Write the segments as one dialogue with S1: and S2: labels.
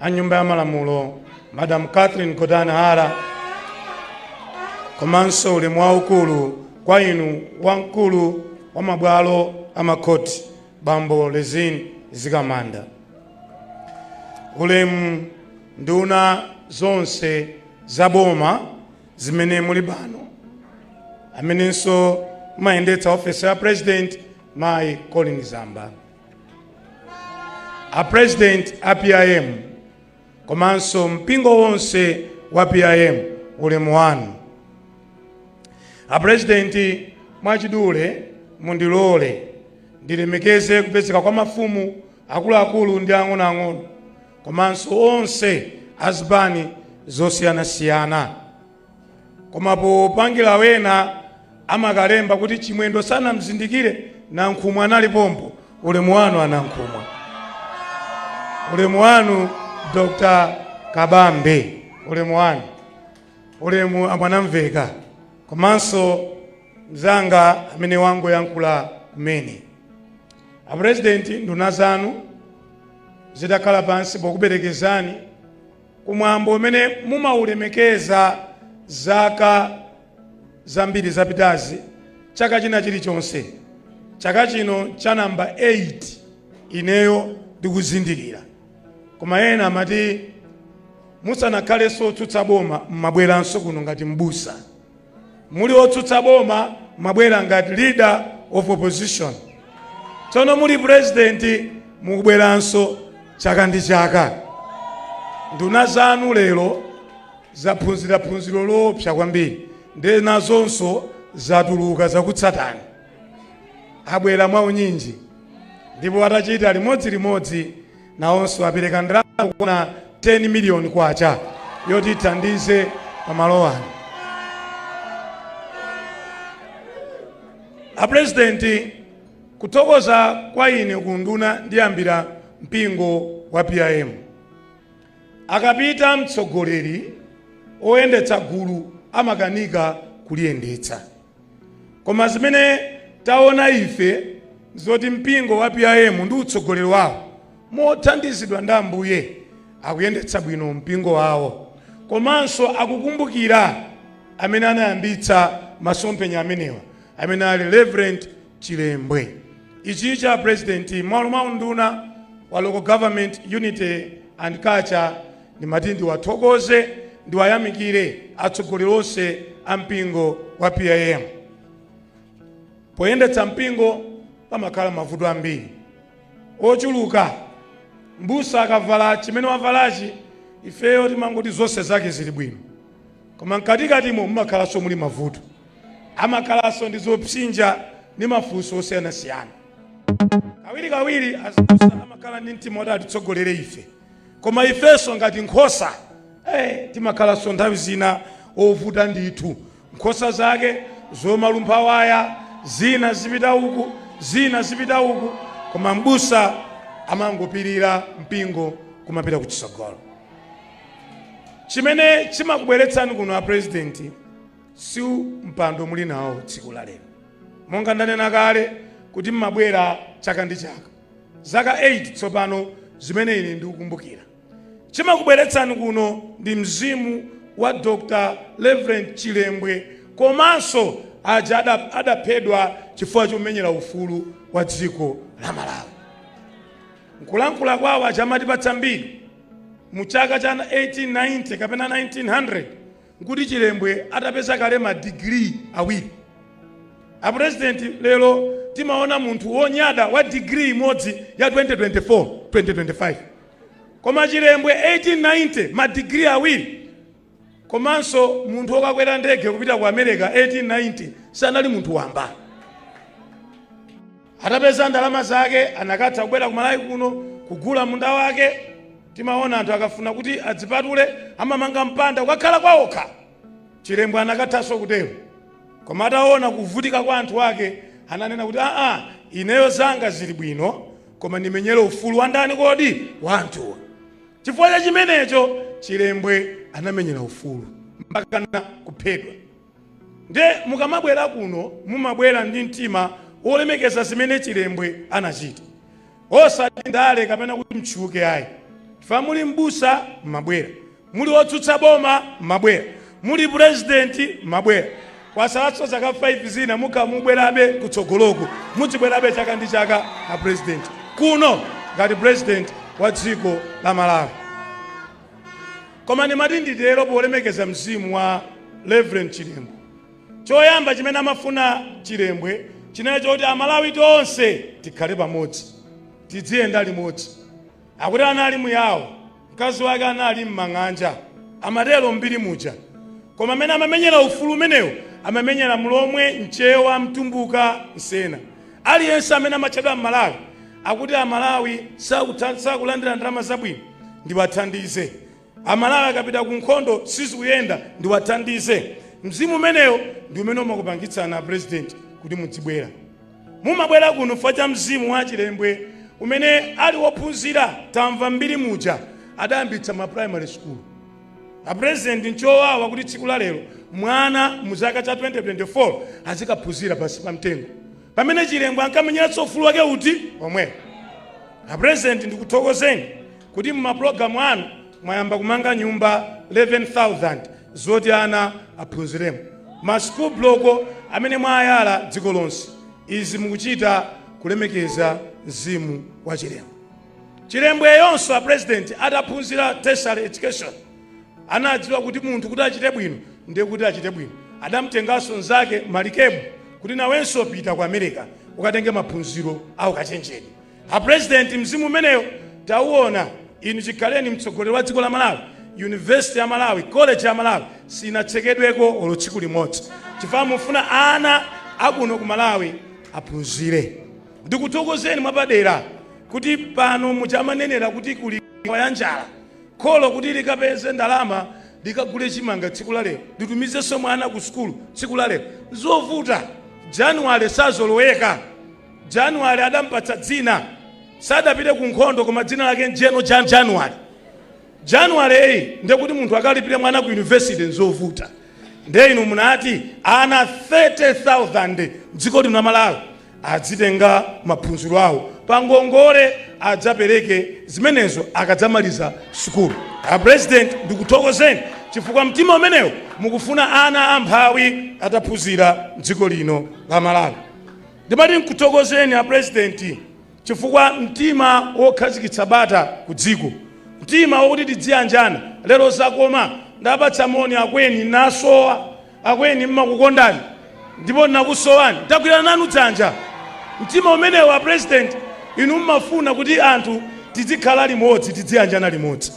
S1: a nyumba ya malamulo madam catherine gotani hara komanso ulemu waukulu kwa inu wamkulu wa mabwalo a makhoti bambo rizine mzikamanda ulemu nduna zonse za boma zimene muli pano amenenso mumayendetsa ofesi ya president mayi colleen zamba a president a PIM komanso mpingo wonse wa PIM ulemu wanu a president mwachidule mundilole ndilemekeze kupezeka kwa mafumu akuluakulu ndi ang'onoang'ono komanso onse azipani zosiyanasiyana koma popangira wena amakalemba kuti chimwendo sanamzindikire nankhumwa anali pompo ulemu wanu anankhumwa ulemu wanu dr kabambe ulemu wanu ulemu amwanamvekha komanso mzanga amene wangoyankhula kumene apurezidenti nduna zanu zitakhala pansi pokuperekezani ku mwambo umene mumaulemekeza zaka zambiri zapitazi chaka china chilichonse chaka chino cha namba 8 ineyo ndikuzindikira koma ena amati musanakhalenso otsutsa boma mmabweranso kuno ngati mbusa muli otsutsa boma mwabwera ngati leader of opposition tsono muli president mukubweranso chaka ndi chaka nduna zanu lero zaphunzira phunziro loopsa kwambiri ndiye nazonso zatuluka zakutsatani abwera mwaunyinji ndipo atachita limodzi limodzi nawonso apereka ndalama zokwana 10 miliyoni kwacha yoti ithandize pa malo ano apurezidenti kuthokoza kwa ine kunduna ndiyambira mpingo wa pim akapita mtsogoleri oyendetsa gulu amakanika kuliyendetsa Koma zimene taona ife nzoti mpingo wa PIM ndi utsogoleri wawo mothandizidwa ndi Ambuye akuyendetsa bwino mpingo wawo komanso akukumbukira amene anayambitsa masomphenya amenewa amene ali Reverend Chilembwe. Ichi a President mmalo mwa unduna wa Local Government Unity and Culture Ndimati ndiwathokoze, ndiwayamikire atsogoleri onse a mpingo wa PIM. Poyendetsa mpingo pamakhala mavuto ambiri ochuluka. Mbusa akavala chimene wavalachi, ifeyo timangoti zonse zake zili bwino, koma mkatikatimo mumakhalanso muli mavuto, amakhalanso ndi zopsinja ndi mafunso osiyanasiyana. Kawirikawiri azibusa amakhala ndi mtima woti atitsogolere ife. koma ifenso ngati nkhosa timakhalanso nthawi zina ovuta ndithu nkhosa zake zomalumpha waya zina zipita uku zina zipita uku koma mbusa amangopirira mpingo kumapita ku chitsogolo chimene chimakubweretsani kuno a president si mpando muli nawo tsiku la lero monga ndanena kale kuti mmabwera chaka ndi chaka zaka 8 tsopano, zimene ine ndikukumbukira. Chimakubweretsani kuno ndi mzimu wa Dr. Rev. Chilembwe komanso aja ada, adaphedwa chifukwa chomenyera ufulu wa dziko la Malawi. Nkulankhula kwawo aCha amatipatsa mbiri mu chaka cha 1890 kapena 1900 nkuti chilembwe atapeza kale ma degree awiri a president lero timaona munthu wonyada wa degree imodzi ya 2024 2025 koma chilembwe 1890 ma degree awiri komanso munthu wokakwera ndege kupita ku america 1890 sanali munthu wamba Atapeza ndalama zake anakatha kubwera ku Malawi kuno kugula munda wake. Timaona anthu akafuna kuti adzipatule amamanga mpanda kukakhala kwaokha. Chilembwe anakathanso kutero. Koma ataona kuvutika kwa anthu ake ananena kuti aa, ineyo zanga zili bwino koma ndimenyere ufulu wa ndani kodi? Wa anthuwa. Chifukwa cha chimenecho Chilembwe anamenyera ufulu mpakana kuphedwa. Nde mukamabwera kuno mumabwera ndi mtima wolemekeza zimene Chilembwe anachita osati ndale kapena kuti mtchuke ayi chifukwa muli m'busa mmabwera, muli otsutsa boma mmabwera, muli president mmabwera. Kwasalanso zaka 5 zina mukamabwerabe kutsogoloku mudzibwerabe chaka ndi chaka a president kuno ngati president wa dziko la Malawi. Koma ndimati nditero polemekeza mzimu wa Rev Chilembwe. Choyamba chimene amafuna Chilembwe chinali choti Amalawi tonse tikhale pamodzi, tidziyenda limodzi. Akuti anali muyao, mkazi wake anali m'mang'anja, amatero m'mbiri muja. Koma amene amamenyera ufulu umenewu amamenyera Mlomwe, Mchewa, Mtumbuka, Msena. Aliyense amene amatchedwa M'Malawi Akuti amalawi sakulandira ndalama zabwino ndiwathandize. Amalawi akapita ku nkhondo sizikuyenda ndiwathandize. Mzimu umenewo ndi umene umakupangitsani a president kuti mudzibwera. Mumabwera kuno chifukwa cha mzimu wa achilembwe umene ali wophunzira tamva mbiri muja adayambitsa ma primary school. A president nchowawa kuti tsiku la lero mwana mu chaka cha 2024 azikaphunzira pansi pa mtengo. Pamene Chilembwe ankamenyera ufulu wake uti omwewo. A President ndikuthokozeni kuti mu ma program anu mwayamba kumanga nyumba 11,000 zoti ana aphunziremo. Ma school block amene mwayala dziko lonse. Izi mukuchita kulemekeza mzimu wa Chilembwe. Chilembweyunso a President ataphunzira tertiary education. Anadziwa kuti munthu kuti achite bwino ndiye kuti achite bwino. Adamtenganso mnzake Malikebu kuti nawenso pita ku America ukatenge maphunziro a ukachenjede. A president mzimu umenewo tauona. Inu chikhaleni mtsogoleri wa dziko la Malawi, university ya Malawi, college ya Malawi sinatsekedweko olo tsiku limodzi chifukwa mufuna ana a kuno ku Malawi aphunzire. Ndikuthokozeni mwapadera kuti pano muja amanenera kuti kuli wa ya njala Kholo kuti likapeze ndalama, likagule chimanga tsiku la lero, litumizenso mwana ku sukulu tsiku la lero, nzovuta. January sazoloweka. January adampatsa dzina, sadapite ku nkhondo, koma dzina lake n'General January. Januaryyi ndiye kuti munthu akalipire mwana ku university nzovuta. Ndiye inu munati ana 30,000 mdziko lino la Malawi Adzitenga maphunziro awo pa ngongole adzapereke zimenezo akadzamaliza sukulu. A President ndikuthokozeni chifukwa mtima umenewo mukufuna ana amphawi ataphunzira mdziko lino la Malawi. Ndimati nkuthokozeni a President chifukwa mtima wokhazikitsa bata ku dziko, mtima wokuti tidziyanjana lero zakoma. Ndapatsa moni akweni nasowa. Akweni, mmakukondani ndipo nnakusowani. Tagwirana nanu dzanja. Mtima umenewo a president inu mmafuna kuti anthu tidzikhala limodzi, tidziyanjana limodzi.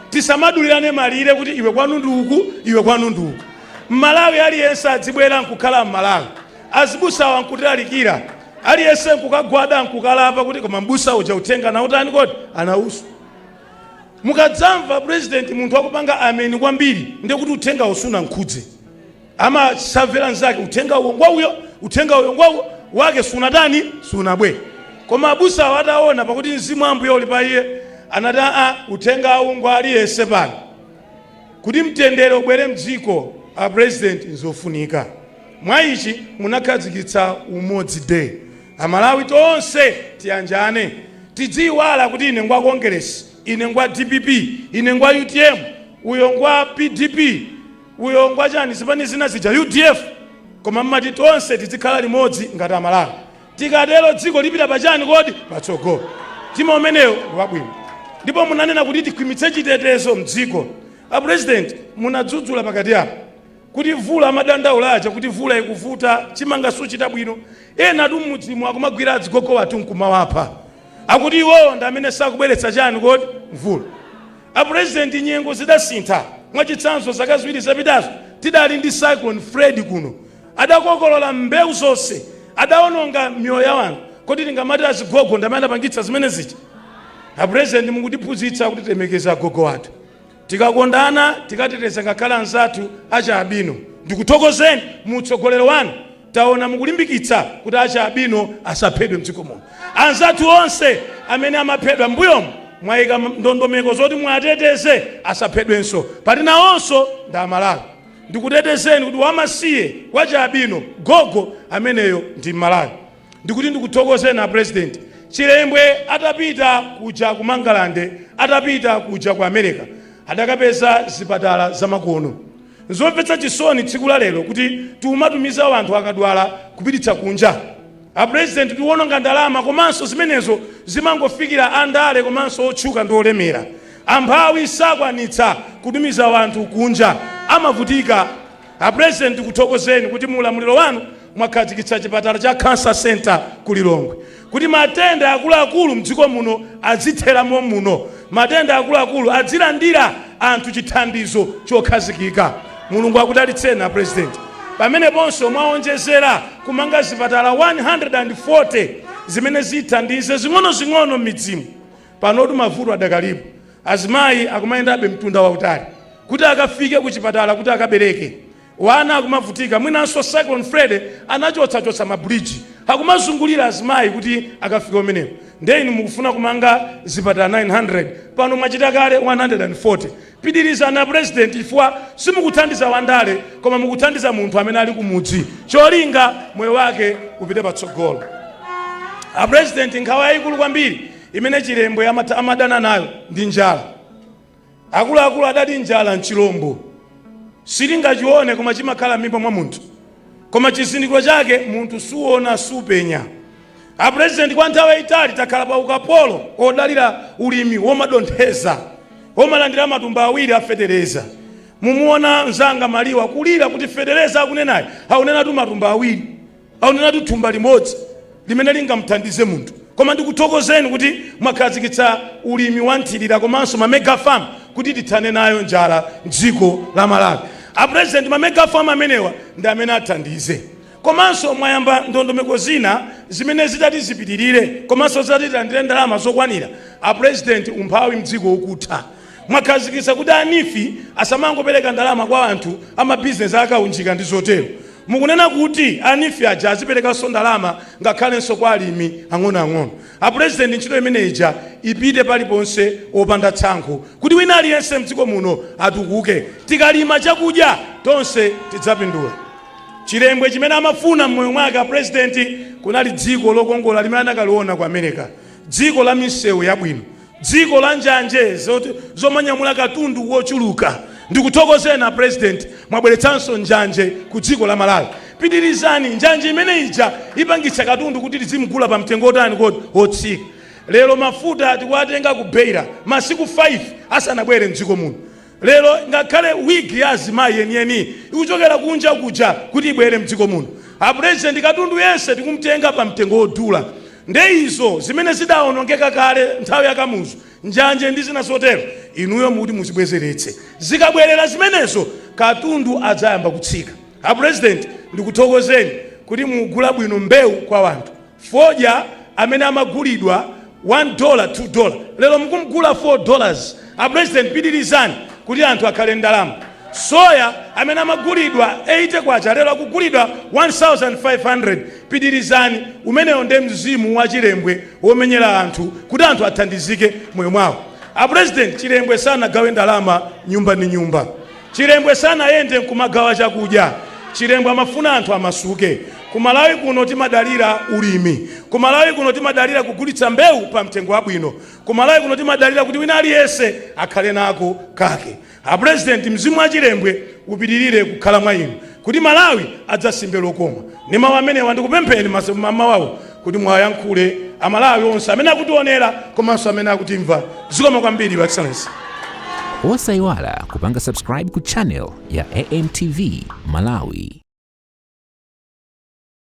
S1: Tisamadulirane malire kuti iwe kwanu ndi uku, iwe kwanu ndi uku. Mmalawi aliyense adzibwera nkukhala mmalawi. Azibusawa nkutilalikira. Aliyense nkukagwada nkukalapa kuti koma mbusa uja uthenga anautani kodi? Anauswa. mukadzamva president munthu akupanga ameni kwambiri ndiye kuti uthengawo sunamkhudze amamvera nzake uthenga uwo ngwauyo uthenga uyo ngwauyo wake sunatani sunabwere koma abusawo ataona pakuti mzimu wa ambuye uli pa iye anati aa uthengawu ngwa aliyense pano kuti mtendere ubwere mdziko a president nzofunika Mwa ichi munakhazikitsa Umodzi Day. A Malawi tonse tiyanjane. Tidziyiwala kuti ine ngwa Kongeresi, ine ngwa dpp, ine ngwa utm, uyo ngwa pdp, uyo ngwa chani zipani zina zija, udf. Koma mmati tonse tidzikhala limodzi ngati a Malawi. Tikatero dziko lipita pa chani kodi? Patsogolo. Mtima umenewo ngwabwino. Ndipo munanena kuti tikhwimitse chitetezo mdziko. A President munadzudzula pakati apa. kuti vula amadandaula aja kuti vula ikuvuta chimanga suchita bwino enatu mmudzimu akumagwira azigogo athu nkumawapha akuti iwowo ndi amene sakubweretsa chani kodi mvula apurezidenti nyengo zidasintha mwachitsanzo zaka ziwiri zapitazo tidali ndi cyclone fred kuno adakokolola mbewu zonse adaononga miyoyo ya wanthu kodi tingamati azigogo ndi amene adapangitsa zimene zija apurezidenti mukutiphunzitsa kuti tilemekeze agogo athu Tikakondana, tikateteza ngakhale anzathu achialubino. Ndikuthokozeni mu utsogoleri wanu taona mukulimbikitsa kuti achialubino asaphedwe mdziko muno. Anzathu onse amene amaphedwa m'mbuyomu mwaika ndondomeko zoti muwateteze asaphedwenso poti nawonso ndi a Malawi. Ndikutetezeni kuti wamasiye wachialubino, gogo, ameneyo ndi m'Malawi. Ndikuti ndikuthokozeni a president chilembwe atapita kuja ku mangalande atapita kuja ku amerika adakapeza zipatala zamakono nzomvetsa chisoni tsiku la lero kuti tiumatumiza wanthu akadwala kupititsa kunja a president tiuwononga ndalama komanso zimenezo zimangofikira andale komanso otchuka ndi olemera amphawi sakwanitsa kutumiza wanthu kunja amavutika A president tikuthokozeni kuti mu ulamuliro wanu mwakhazikitsa chipatala cha cancer centre ku Lilongwe kuti matenda akuluakulu mdziko muno adzithera mommuno, matenda akuluakulu adzilandira anthu chithandizo chokhazikika. Mulungu akudalitseni a president. Pameneponso mwaonjezera kumanga zipatala 140 zimene zithandize zing'onozing'ono mmidzimu Panotu mavuto adakalipo, azimayi akumayendabe mtunda wautali kuti akafike kuchipatala kuti akabereke, wana akumavutika mwinanso Cyclone Freddy anachotsachotsa ma bridge akumazungulira azimayi kuti akafike kumeneko nde inu mukufuna kumanga zipatala 900 pano mwachita kale 140. Pitilizani a President chifukwa simukuthandiza wandale koma mukuthandiza munthu amene ali kumudzi cholinga moyo wake upite patsogolo. A President nkhawa yaikulu kwambiri imene chilembwe amadana nayo ndi njala akuluakulu adati njala nchilombo silingachione koma chimakhala m'mimba mwa munthu koma chizindikiro chake munthu suona supenya apurezidenti kwa nthawi yayitali takhala pa ukapolo odalira ulimi womadontheza womalandira matumba awiri a fetereza mumuona mzanga maliwa kulira kuti fetereza akunenayo akunenatu matumba awiri akunenatu thumba limodzi limene lingamthandize munthu koma ndikuthokozeni kuti mwakhazikitsa ulimi wa nthirira komanso ma mega farm kuti tithane nayo njala mdziko la malawi a president ma mega farm amenewa ndi amene athandize komanso mwayamba ndondomeko zina zimene zitati zipitirire komanso zitati tilandire ndalama zokwanira a president umphawi mdziko ukutha Mwakhazikitsa kuti a NEEF asamangopereka ndalama kwa anthu a ma business a kaunjika ndi zotero. Mukunena kuti a NEEF aja aziperekanso ndalama ngakhalenso kwa alimi ang'onoang'ono. A President ntchito imene ija ipite paliponse opanda tsankho kuti wina aliyense mdziko muno atukuke. Tikalima chakudya tonse tidzapindula. Chilembwe chimene amafuna mmoyo mwake a President kunali dziko lokongola limene anakaliona ku America. Dziko la misewu yabwino. Dziko la njanje zomanyamula katundu wochuluka. Ndikuthokozeni a president mwabweretsanso njanje ku dziko la Malawi. Pitirizani. Njanje imene ija ipangitsa katundu kuti tizimugula pa mtengo wotani kodi? Wotsika. Lero mafuta tikuwatenga ku Beira masiku 5 asanabwere m'dziko muno. Lero ngakhale wig ya azimayi yeniyeni ikuchokera kunja kuja kuti ibwere mdziko muno. A president katundu yense tikumtenga pa mtengo wodula. Nde izo zimene zidaonongeka kale nthawi ya Kamuzu, njanje ndi zina zotero, inuyo mukuti muzibwezeretse. Zikabwerera zimenezo katundu adzayamba kutsika. A president ndikuthokozeni kuti mukugula bwino mbewu kwa wanthu. Fodya amene amagulidwa 1 dola 2 dola lero mukumgula 4 dollars. A president pitilizani kuti anthu akhale ndalama. Soya amene amagulidwa 80 kwacha lero akugulidwa 1500 pitilizani umenewo nde mzimu wa chilembwe womenyera anthu kuti anthu athandizike mmoyo mwawo. A president chilembwe sanagawe ndalama nyumba ndi nyumba. Chilembwe sanayende nkumagawa chakudya. Chilembwe amafuna anthu amasuke. Ku Malawi kuno timadalira ulimi. Ku Malawi kuno timadalira kugulitsa mbewu pa mtengo wabwino. Ku Malawi kuno timadalira kuti wina aliyense akhale nako kake. A President, mzimu wa Chilembwe upitilire kukhala mwa inu kuti Malawi adzasimbe lokoma. Ndi mau amenewa ndikupempheni mamawa uno. kuti mwayankhule amalawi onse amene akutionera komanso amene akutimva zikomo kwambiri your excellency
S2: Osayiwala kupanga subscribe ku channel ya AMTV Malawi.